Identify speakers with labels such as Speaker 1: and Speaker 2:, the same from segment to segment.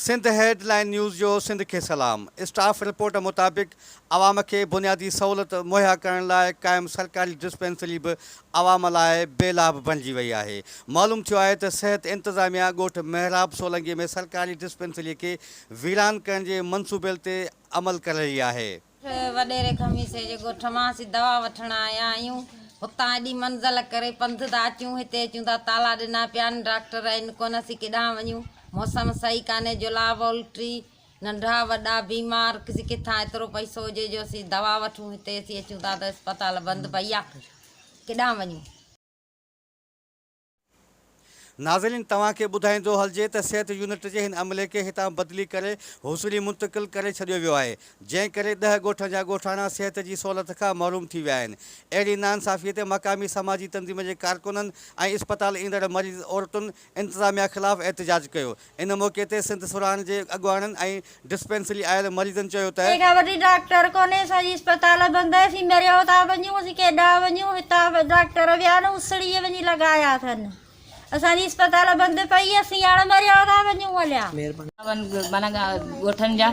Speaker 1: Sindh headline news جو سنڌ کي سلام اسٽاف رپورٽ مطابق عوام کي بنيادي سهولت مهيا ڪرڻ لاء قائم سرڪاري ڊسپينسري به عوام لاء بي لاڀ بڻجي وئي آهي معلوم ٿيو آهي ته صحت انتظاميا ڳوٺ محراب سولنگي ۾ سرڪاري ڊسپينسري کي ويران ڪرڻ جي منصوبيل تي عمل ڪررهي آهي وڏيري
Speaker 2: خميسي جي ڳوٺ مان اسين دوا وٺڻ آيا آهيون هتان ايڏي منزل ڪري پنڌ ٿا اچون هتي اچون ٿا تالا ڏنا پيا آهن ڊاڪٽر آهن ڪونه اسين ڪيڏانهن وڃون موسم صحيح ڪانهي جلاب الٽي ننڍا وڏا بيمار اسين ڪٿان ايترو پئسو هجي جو اسين دوا وٺون هتي اسين اچون ٿا ته اسپتال بند پئي آهي ڪيڏانهن وڃون.
Speaker 1: ناظرين توهان کي ٻڌائيندو هلجي ته صحت يونٽ جي هن عملي کي هتان بدلي ڪري هوسڙي منتقل ڪري ڇڏيو ويو آهي جنهن ڪري ڏهه ڳوٺن جا ڳوٺاڻا صحت جي سهولت کان محروم ٿي ويا آهن اهڙي ناانصافي تي مقامي سماجي تنظيم جي ڪارڪنن ۽ اسپتال ايندڙ مريض عورتن انتظاميا خلاف احتجاج ڪيو ان موقعي تي سنڌ سرهاڻي جي اڳواڻن ۽ ڊسپينسري آيل مريضن چيو ته. ڪنهن کان وڏي ڊاڪٽر
Speaker 3: ڪونهي اسان جي اسپتال بند آهي اسين مريو ٿا وڃون اسين ڪيڏا وڃون هتان ڊاڪٽر ويا آهن اسڙيء وڃي لڳايا اٿن اسان جي اسپتال بند پئي اسين هاڻ مريو ٿا وڃون اليا. مهرباني ڪري
Speaker 4: ڳوٺن جا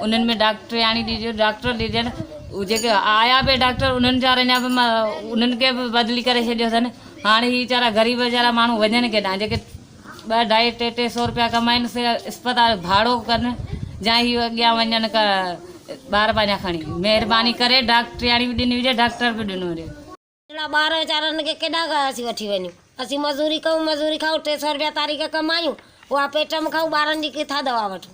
Speaker 4: انهن ۾ ڊاڪٽرياڻي ڏجي ڊاڪٽر ڏجن جيڪي آيا به ڊاڪٽر انهن ويچارن جا به انهن کي به بدلي ڪري ڇڏيو اٿن هاڻ هي ويچارا غريب ويچارا ماڻهو وڃن ڪيڏانهن جيڪي ٻه اڍائي ٽي ٽي سئو روپيا ڪمائين سي اسپتال جو ڀاڙو ڪن جا هي اڳيان وڃن ڪا ٻار پنهنجا کڻي مهرباني ڪري ڊاڪٽرياڻي به ڏني هجي ڊاڪٽر به ڏنو هجي. ننڍڙا ٻار
Speaker 5: ويچارن کي ڪيڏا اسين وٺي وڃون اسين مزوري ڪيون مزوري کائون ٽي سئو روپيا تاريخ ڪمايون اها پيٽ ۾ کائون ٻارن جي ڪٿان دوا وٺون.